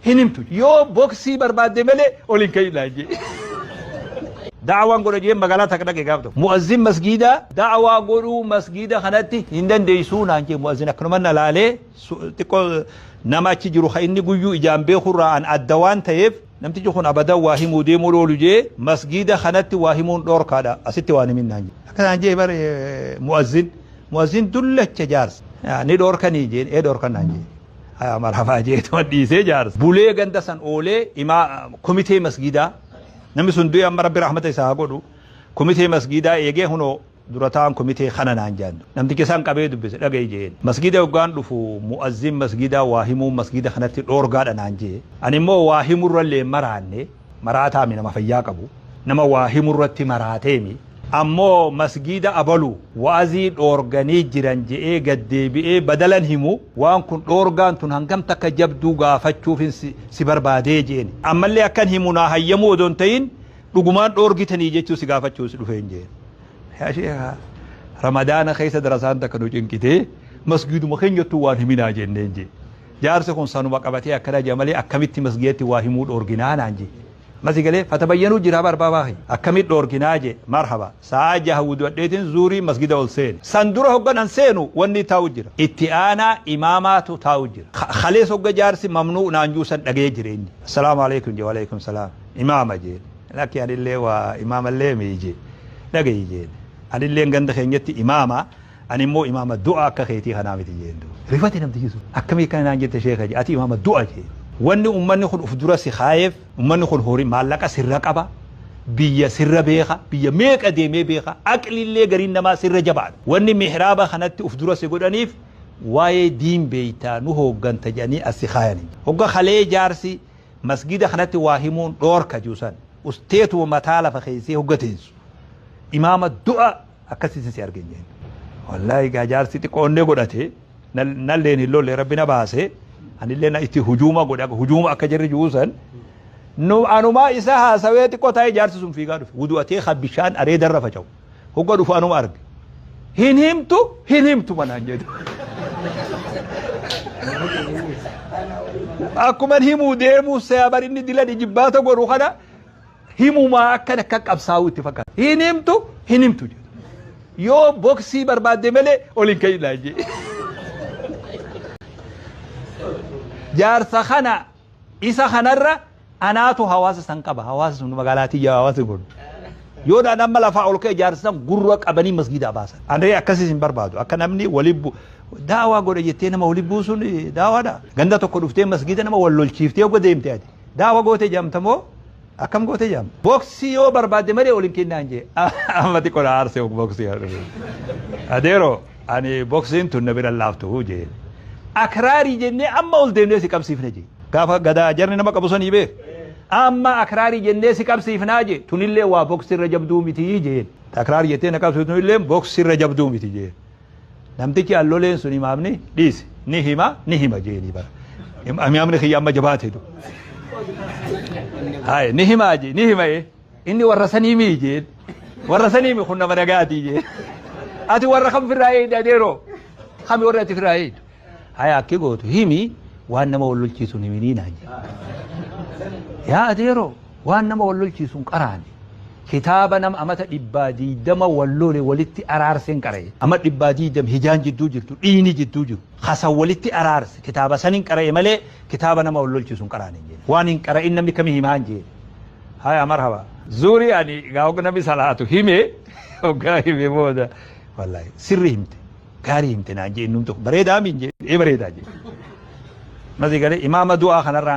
hin himtu yoo boksii barbaadde malee ol hin ka'iin naan jee. Da'awaan godha jeen magaalaa takka dhaqe gaaf tokko. Mu'azzin masgiidaa da'awaa godhuu masgiida kanatti hin dandeessuu naan jee mu'azzin akkanuma na laalee xiqqoo nama achi jiru kan inni guyyuu ijaan beekurraa an adda waan ta'eef namtichi kun abadan waa himuu deemuu loolu jee masgiida kanatti waa himuun dhoorkaadha asitti waan himin naan jee. Akka naan jee bare mu'azzin mu'azzin dullacha jaarsa ni dhoorkanii jeen ee dhoorkan naan jee. marhafaa jeetuma dhiisee jaarsa bulee ganda san oolee imaa komitee masgiidaa namni sun du'e amma rabbi rahmata isaa haa godhu komitee masgiidaa eegee hunoo durataan komitee kana naan jaandu namticha isaan qabee dubbise dhaga'i jeen masgiida hoggaan dhufu mu'azzin masgiidaa waa himuu masgiida kanatti dhoorgaadha naan jee ani immoo waa himurrallee maraanne maraataami nama fayyaa qabu nama waa himu irratti maraateemi ammoo masgiida abalu wa'azii dhoorganii jiran je'ee gad deebi'ee badalan himu waan kun dhoorgaan tun hangam takka jabduu gaafachuufin si, si barbaadee je'een ammallee akkan himu naa hayyamuu odoo hin ta'in dhugumaan dhoorgitanii jechuu si gaafachuus dhufeen je'een yaa sheekaa ramadaana keessa darasaan takka nu cinqitee masgiiduma keenyattuu waan himinaa jenneen je'e Jaarsi kun sanuma qabatee akkana jedha malee akkamitti masgiidatti waa himuu dhoorginaa naan jee. Masi galee fatabayyanuu jira bar baabaa kiyya. Akkamitti dhoorginaa jee marhaba. Sa'aa jaha wudu'adheetiin zuurii masgiida ol seene. San dura hoggan an seenu wanni taa'u jira. Itti aanaa imaamaatu taa'u jira. Kalees hogga jaarsi mamnuu naan juu san dhagayee jira inni. Assalaamu aleykum jee waaleykum salaam. Imaama jeen. Lakki anillee waa imaamallee mii jee. Dhagayi jeen. Anilleen ganda keenyatti imaama. Ani immoo imaama du'a akka keetii kanaa miti jeen duuba. Rifate namtichi sun. Akkamii akkana naan jette sheeka jee. Ati imaama du'a jeen. Wanni ummanni kun uf dura si kaayeef ummanni kun horii maallaqa sirra qaba, biyya sirra beeka, biyya meeqa deemee beeka, aqlillee gariin namaa sirra jabaadha. Wanni mihraaba kanatti uf dura si godhaniif waayee diin beeyta nu hoogganta jedhanii as si kaayani. Hogga kalee jaarsi masgiida kanatti waa himuun dhoorka jeu san usteetuma mataa lafa keeysee hogga teensu imaama du'a akkasitti si arge jeen wallaahi gaa jaarsi xiqqoonnee godhate nalleen hin lolle rabbi na baase anillee na itti hujuuma godhe akka hujuuma akka jirri juusan nu anumaa isa haasawee xiqqoo taa'ee jaarsi sun fiigaa dhufe wudu'atee kan bishaan areedarra faca'u hogga dhufu anuma arge hin himtu hin himtu manaan jedhu akkuma himuu deemuu seebar inni dila jibbaata godhu kana himumaa akkan akka qabsaa'uu itti fakkaata. Hin himtu hin himtu jedha. Yoo boksii barbaadde malee ol hin ka'inaa jee. Jaarsa kana isa kanarra anaatu hawaasa san qaba. Hawaasa sun magaalaa tiyya hawaasa kun. Yoo dhaan amma lafaa ol ka'e jaarsa san gurra qabanii masgiidaa baasan. Ani akkasiis hin barbaadu. Akka namni waliin bu daawaa godha jettee nama waliin buusuun daawaadha. Ganda tokko dhuftee masgiida nama wal lolchiiftee yoo deemte ati. Daawa goote jaamta moo akkam goote jaamta? Boksi yoo barbaadde malee ol hin kennaan jee. Ammati qola aarse ok boksi haa dhufu. Adeero ani boksiin tun na bira laaftu jee. Akraarii jennee amma ol deemnee si qabsiifna jee. Gaafa gadaa jarni nama qabu sanii beek. Amma akraarii jennee si qabsiifnaa jee. Tunillee waa boksi irra jabduu miti jeen. Akraarii jettee na qabsiiftu tunillee boksi irra jabduu miti jeen. Namtichi an loleen sun imaamni dhiisi ni hima ni hima jeeni bara. Im- Imaamni kiyya amma jabaate du. Haye ni hima je ni hima ye. Inni warra sanii mii jeen. Warra sanii mii kun nama nagaatii jeen. Ati warra kam firraa eeyda deeroo. Kami warra ati firraa eeydu. Haya akki gootu himi waan nama wal lolchiisuun himinii naan jedhe. Yaa adeeroo waan nama wal lolchiisuun qaraani. Kitaaba nama amata dhibbaa diidama wal lole walitti araarseen qara'e. Ama dhibbaa diidam hijaan jidduu jirtu dhiini jidduu jiru. Kasa walitti araarse kitaaba sanin qara'e malee kitaaba nama wal lolchiisuun qaraani hin jedhe. Waan hin qara'in namni kami himaa hin jedhe. Haya marhaba. Zuuri ani gaa hogga namni salaatu hime hoggaa hime booda wallahi sirri himte. gaarii himte naan jee innum tokko bareedaa miin jee ee bareedaa jee. Masi galee imaama du'aa kanarraan